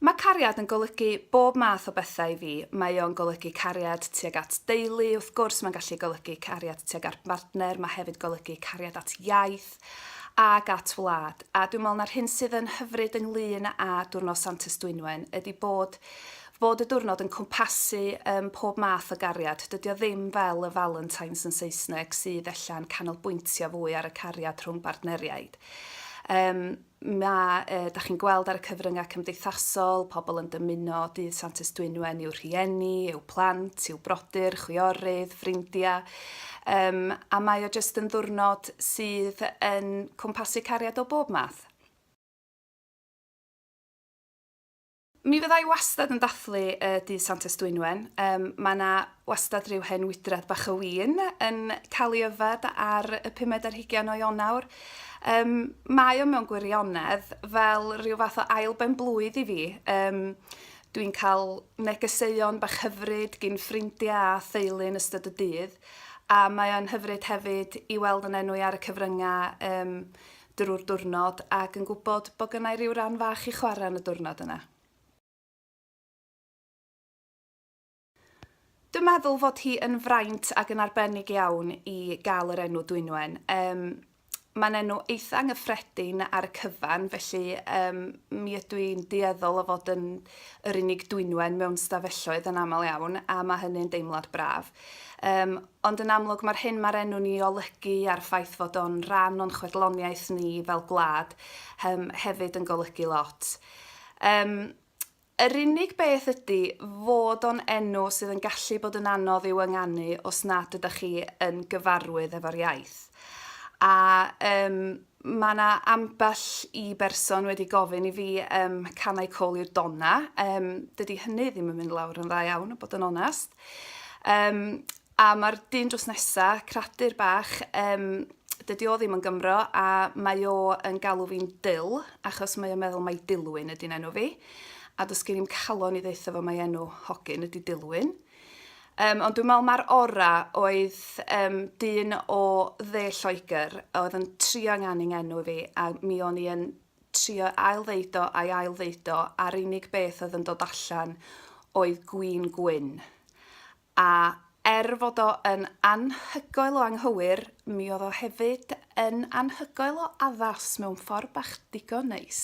Mae cariad yn golygu bob math o bethau i fi. Mae o'n golygu cariad tuag at deulu, wrth gwrs, mae'n gallu golygu cariad tuag ar bartner, mae hefyd golygu cariad at iaith ac at wlad. A dwi'n meddwl na'r hyn sydd yn hyfryd ynglyn â Diwrnod Sant Ystwynwen ydy bod fod y diwrnod yn cwmpasu um, pob math o gariad. Dydy o ddim fel y Valentines yn Saesneg sydd ella'n canolbwyntio fwy ar y cariad rhwng bartneriaid. Um, mae, uh, da chi'n gweld ar y cyfryngau cymdeithasol, pobl yn dymuno dydd Santes Dwynwen i'w rhieni, i'w plant, i'w brodyr, chwiorydd, ffrindiau. Um, a mae o jyst yn ddwrnod sydd yn cwmpasu cariad o bob math. Mi fydda i wastad yn dathlu y dydd Santes Dwynwen. Um, mae yna wastad rhyw hen wydrad bach o win yn cael ei yfed ar y pumed ar hugen o Ionawr. Um, mae o mewn gwirionedd fel rhyw fath o ail ben blwydd i fi. Um, Dwi'n cael negeseuon bach hyfryd gyn ffrindiau a theulu yn ystod y dydd, a mae o'n hyfryd hefyd i weld yn enw i ar y cyfryngau um, drwy'r diwrnod ac yn gwybod bod gynna i ryw ran fach i chwarae yn y diwrnod yna. Dwi'n meddwl fod hi yn fraint ac yn arbennig iawn i gael yr enw Dwynwen. Um, Mae'n enw eitha anghyffredin ar y cyfan, felly um, mi ydw i'n dueddol o fod yn yr unig dwynwen mewn stafelloedd yn aml iawn, a mae hynny'n deimlad braf. Um, Ond yn amlwg mae'r hyn mae'r enw'n ei olygu a'r ffaith fod o'n rhan o'n chwedloniaeth ni fel gwlad yym hefyd yn golygu lot. Yym yr unig beth ydy fod o'n enw sydd yn gallu bod yn anodd i'w ynganu os nad ydych chi yn gyfarwydd efo'r iaith. A yym mae 'na ambell i berson wedi gofyn i fi yym can I call you Donna? Yym dydy hynny ddim yn mynd lawr yn dda iawn, bod yn onest. Um, a mae'r dyn drws nesa, cradur bach, um, dydy o ddim yn Gymro, a mae o yn galw fi'n Dil, achos mae o'n meddwl mae Dilwyn ydy'n enw fi. A dos gen i'n calon i ddeitha fo mae enw hogyn ydy Dilwyn. Um, ond dwi'n meddwl mae'r ora oedd um, dyn o dde Lloegr oedd yn trio yng enw fi a mi o'n i yn trio ail-ddeud o a'i ail-ddeud o, a'r unig beth oedd yn dod allan oedd 'gwin gwyn'. A er fod o yn anhygoel o anghywir, mi oedd o hefyd yn anhygoel o addas mewn ffordd bach digon neis.